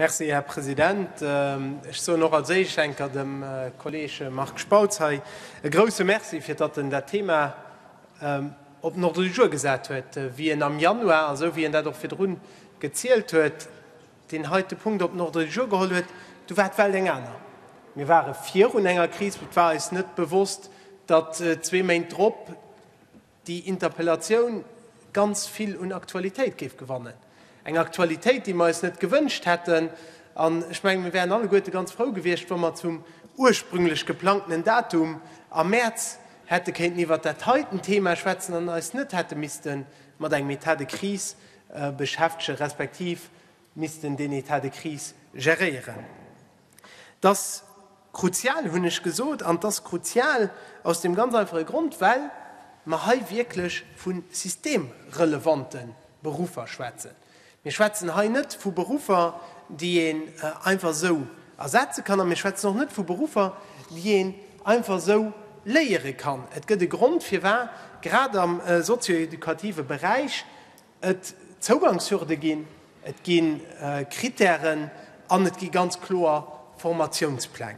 Merci, Här President. Ech soen och als Éischt enker dem Kolleeg Marc Spautz hei e grouse Merci, fir datt en dat Thema op den Ordre du jour gesat huet, wéi en am Januar, esou wéi en dat och virdru gezielt huet, deen heite Punkt op den Ordre du jour geholl huet. Du war d'Welt eng aner. Mir ware virun enger Kris. Et war eis net bewosst, datt zwee Méint drop, déi Interpellatioun ganz vill un Aktualitéit géif gewannen, eng Aktualitéit, déi mer eis net gewënscht hätten. An ech mengen, mir wären alleguerte ganz frou gewiescht, wa mer zum ursprünglech geplangtenen Datum am Mäerz hätte kéinten iwwert dat heiten Thema schwätzen an eis net hätte misste mat engem État de crise beschäftegen, respektiv missten deen État de crise geréieren. Dass. Kruzial hunn ech gesot, an et ass kruzial aus deem ganz einfache Grond, well mer hei wierklech vu systemrelevante Beruffer schwätzen. Mir schwätzen hei net vu Beruffer, déi een einfach esou ersetze kann, a mir schwätzen och net vu Beruffer, déi een einfach esou léiere kann. Et gëtt e Grond, firwat grad am sozio-educative Beräich, et Zougangshürde ginn, et gi Kritären an et gi ganz kloer Formatiounspläng.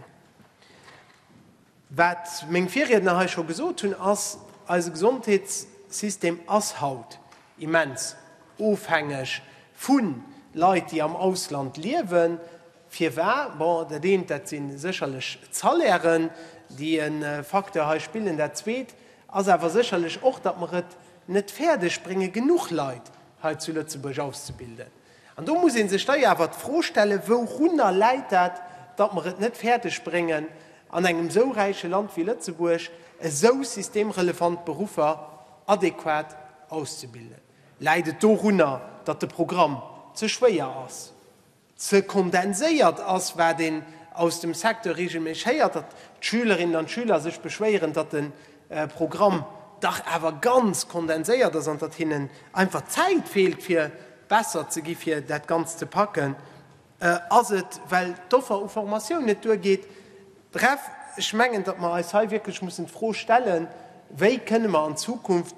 Wat meng Virriedner hei scho gesot hunn, ass, Eise Gesondheetssystem ass haut immens ofhängeg vu Leit, déi am Ausland liewen. Firwa? Bon, dat eent, dat si sécherlech d'Salairen, déi e Facteur hei spillen. Dat Zweet, ass awer sécherlech och, datt mer et net fäerdeg brénge genuch Leit hei zu Lëtzebuerg auszebilden. An do muss ee sech da jo awer d'Fro stellen, wourunner läit dat, datt mer et net fäerdeg bréngen an engem esou räiche Land wéi Lëtzebuerg esou systemrelevant Beruffer adequat auszebilden? Läit et dorunner, datt de Programm ze schwéier ass? ze kondenséiert ass, wat een aus dem Secteur reegelméisseg héiert, datt d'Schülerinnen an d'Schüler sech beschwéieren, datt de Programm dach awer ganz kondenséiert ass an datt hinnen einfach d'Zäit feelt fir besser ze gi fir dat Ganzt ze packen, ass et well d'Offer u Formatioun net duergeet. Bref, ech mengen, datt mer eis hei wierklech mussen d'Fro stellen, wéi kënne mer an Zukunft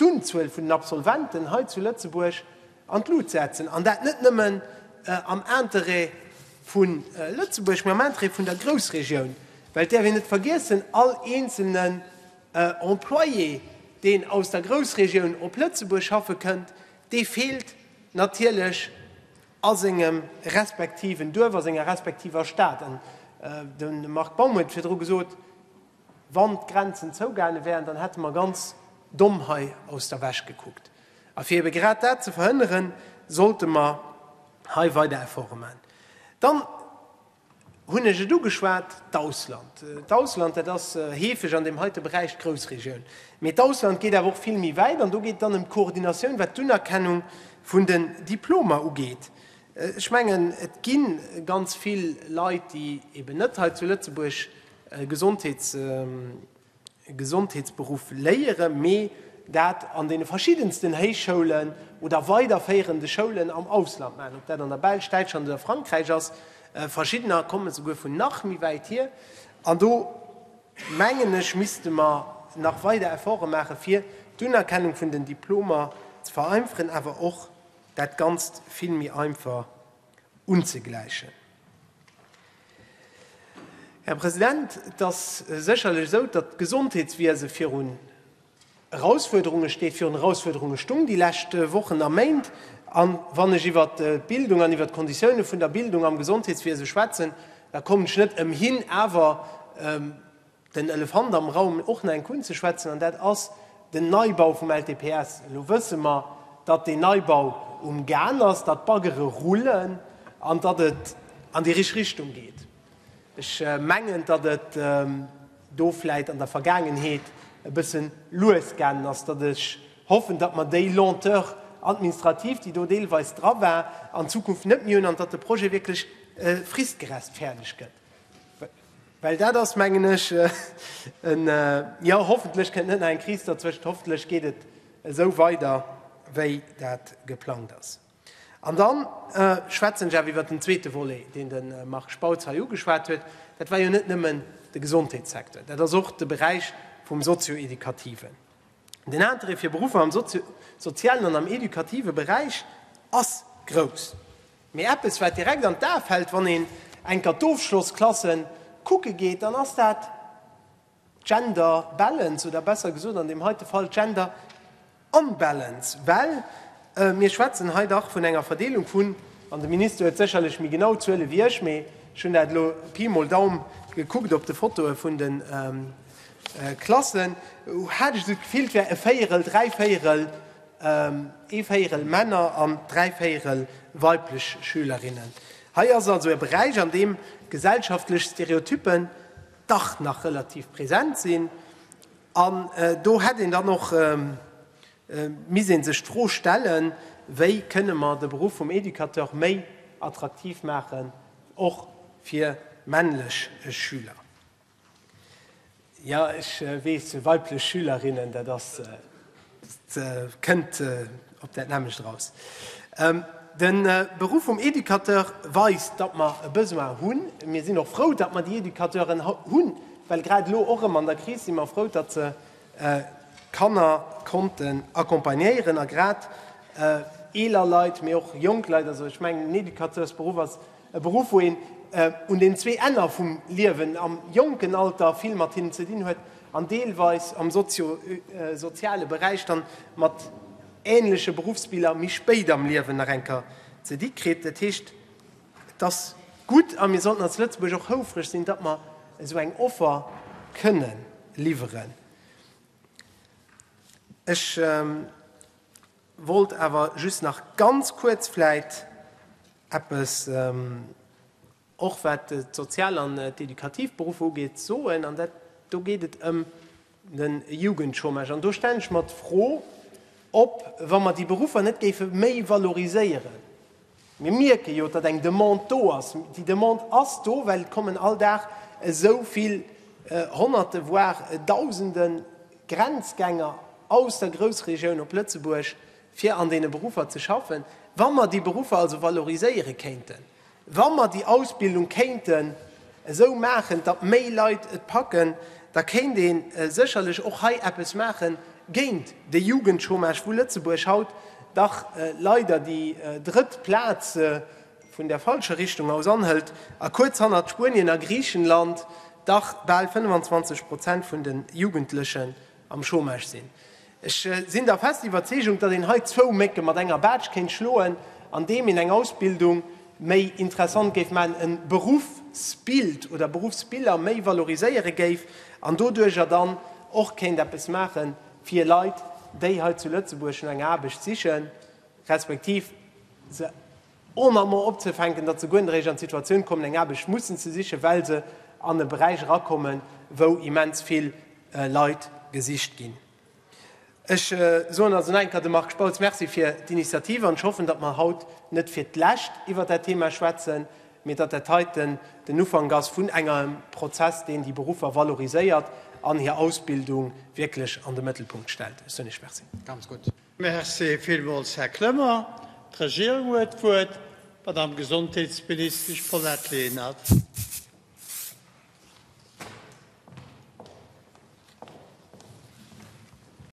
d'Unzuel vun den Absolventen hei zu Lëtzebuerg, an d'Lut setzen, an dat net nëmmen am Interêt vu Lëtzebuerg, mä am Interêt vun der Groussregioun, well et däerf een net vergiessen, all eenzelnen Employé, deen aus der Groussregioun op Lëtzebuerg schaffe kënnt, dee feelt natierlech a sengem respektiven Duerf, a senger respektiver Stad. An de Marc Baum huet et virdru gesot, Wann d'Grenzen zougaange wären, dann hätte mer ganz domm hei aus der Wäsch gekuckt. A fir ebe grad dat ze verhënneren, sollte mer hei weider Efforte maachen. Dann hunn ech et ugeschwat, d'Ausland. D'Ausland, dat ass heefeg an deem heite Beräich d'Groussregioun. Mee d'Ausland geet awer och vill méi wäit an do geet et dann ëm d'Koordinatioun, wat d'Unerkennung vun den Diplomer ugeet. Ech mengen, et gi ganz vill Leit, déi eben net hei zu Lëtzebuerg Gesondheets, Gesondheetsberuff léiere, mee dat an deene verschiddensten Héichschoulen oder weiderféierende Schoulen am Ausland maachen, ob dat an der Belsch, Däitschland oder Frankräich ass. Verschiddener kommen esouguer vun nach méi wäit hier. An do, mengen ech, misste mer nach weider Efforte maachen, fir d'Unerkennung vun den Diplomer ze vereinferen, awer och dat Ganzt vill méi einfach. unzegläichen. Här President, et ass sécherlech esou, datt d'Gesondheetswiese virun Erausfuerderunge steet, virun Erausfuerderunge stung déi lescht Wochen a Méint. A wann ech iwwer d'Bildung an iwwer d'Konditioune vun der Bildung am Gesondheetswiese schwätzen, da kommen ech net ëmhin awer, Den Elefant am Raum, och nach enk unzeschwätzen, an dat ass den Neibau vum LTPS. Elo wësse mer, datt deen Neibau um Gan ass, datt d'Baggere rullen an datt et an déi richteg Richtung geet. Ech mengen, datt et do vläit an der Vergaangenheet e bëssen lues gaangen ass, datt ech hoffen, datt mer déi Lenteur administrative, déi do deelweis dra war, an Zukunft net méi hunn an datt de Projet wierklech fristgerechtfäerdeg gëtt. Well dat ass, mengen ech, en, jo, hoffentlech kënnt net nach eng Kris dozwëscht, hoffentlech geet et esou weider, wéi dat geplangt ass. An dann schwätzen ech awer iwwert den zweete Volet, deen de Marc Spautz hei ugeschwat huet. Dat war jo net nëmmen de Gesondheetssecteur, dat ass och de Beräich vum Sozio-Educativen. Den Interêt fir Beruffer am Sozio-, Sozialen an am Educative Beräich ass grouss. Mee eppes wat direkt an d'A fällt wann een enker d'Ofschlossklasse kucke geet, dann ass dat d'Gender Balance oder besser gesot an deem heite Fall d'Gender Unbalance. Well mir schwätzen hei dach vun enger Verdeelung vun, an de Minister huet sécherlech méi genau Zuele wéi ech, mee ech hunn dat elo Pi mol Daum gekuckt op de Fotoe vun de Klassen, hat ech esou d'Gefill, et wär e Véierel, dräi Véierel, ee Véierel Männer an dräi Véierel weiblech Schülerinnen. Hei ass also e Beräich, an deem gesellschaftlech Stereotyppen dach nach relativ present sinn. An do hätt een dann och misst ee sech d'Fro stellen, wéi kënne mer de Beruff vum Educateur méi attraktiv maachen, och fir männlech Schüler. Ja, ech weess, weiblech Schülerinnen, dat ass, dat kënnt op dat nämmlecht eraus. De Beruff vum Educateur weist, datt mer e Besoin hunn. Mir sinn och frou, datt mer déi Educateuren hunn, well grad elo och erëm an der Kris si mer frou, datt se Kanner konnten accompagnéieren a grad eeler Leit, mee och jonk Leit. Also ech mengen, den Educateursberuff ass E Beruff, wou een un den zwee Enner vum Liewen, am jonken Alter vill mat hinnen ze dinn huet an deelweis am sozio-soziale Beräich dann mat ähnleche Beruffsbiller méi spéit am Liewen nach eng Kéier ze di kritt. Dat heescht, et ass gutt a mir sollten als Lëtzebuerg och houfreg sinn, datt mer esou eng Offer kënnen liwweren. Ech. Wollt awer just nach ganz kuerz vläit eppes, och wat d'sozial an d'éducativ Beruffer ugeet, soen, an dat, do geet et ëm de Jugendchômage. An do stellen ech mer d'Fro, ob, wa mer déi Beruffer net géife méi valoriséieren, Mir mierke jo, datt eng Demande do ass. Déi Demande ass do, well et kommen all Dag esou vill Honnerte, voire Dausende Grenzgänger aus der Groussregioun op Lëtzebuerg, fir an deene Beruffer ze schaffen. Wa mer déi Beruffer also valoriséiere kéinten, wa mer déi Ausbildung kéinte esou maachen, datt méi Leit et packen, da kéint ee sécherlech och hei eppes maache géint de Jugendchômage, wou Lëtzebuerg haut dach leider déi drëtt Plaz vun der falscher Richtung aus anhëlt a kuerz hannert Spuenien a Griichenland dach bal 25 Prozent vun de Jugendlechen am Chômage sinn. Ech sinn der fest Iwwerzeegung, datt een hei zwou Mécke mat enger Baatsch kéint schloen, andeem een eng Ausbildung méi interessant géif maachen, e Beruffsbild oder Beruffsbiller méi valoriséiere géif an doduercher dann och kéint eppes maache fir Leit, déi hei zu Lëtzebuerg no enger Aarbecht sichen, respektiv se. Ohne amo opzefänken, datt se guer net eréischt an d'Situatioun kommen, eng Aarbecht mussen ze sichen, well se an e Beräich erakommen, wou immens vill Leit gesicht ginn. Ech soen also nach eng Kéier dem Marc Spautz Merci fir d'Initiative an ech hoffen, datt mer haut net fir d'lescht iwwert dat Thema schwätzen, mee datt dat heiten den Ufank ass vun engem Prozess, deen déi Beruffer valoriséiert an hir Ausbildung wierklech an de Mëttelpunkt stellt. Ech soen Iech Merci. Merci villmools, Här Clement. D'Regierung huet d'Wuert, d'Madame Gesondheetsministesch Paulette Lenert.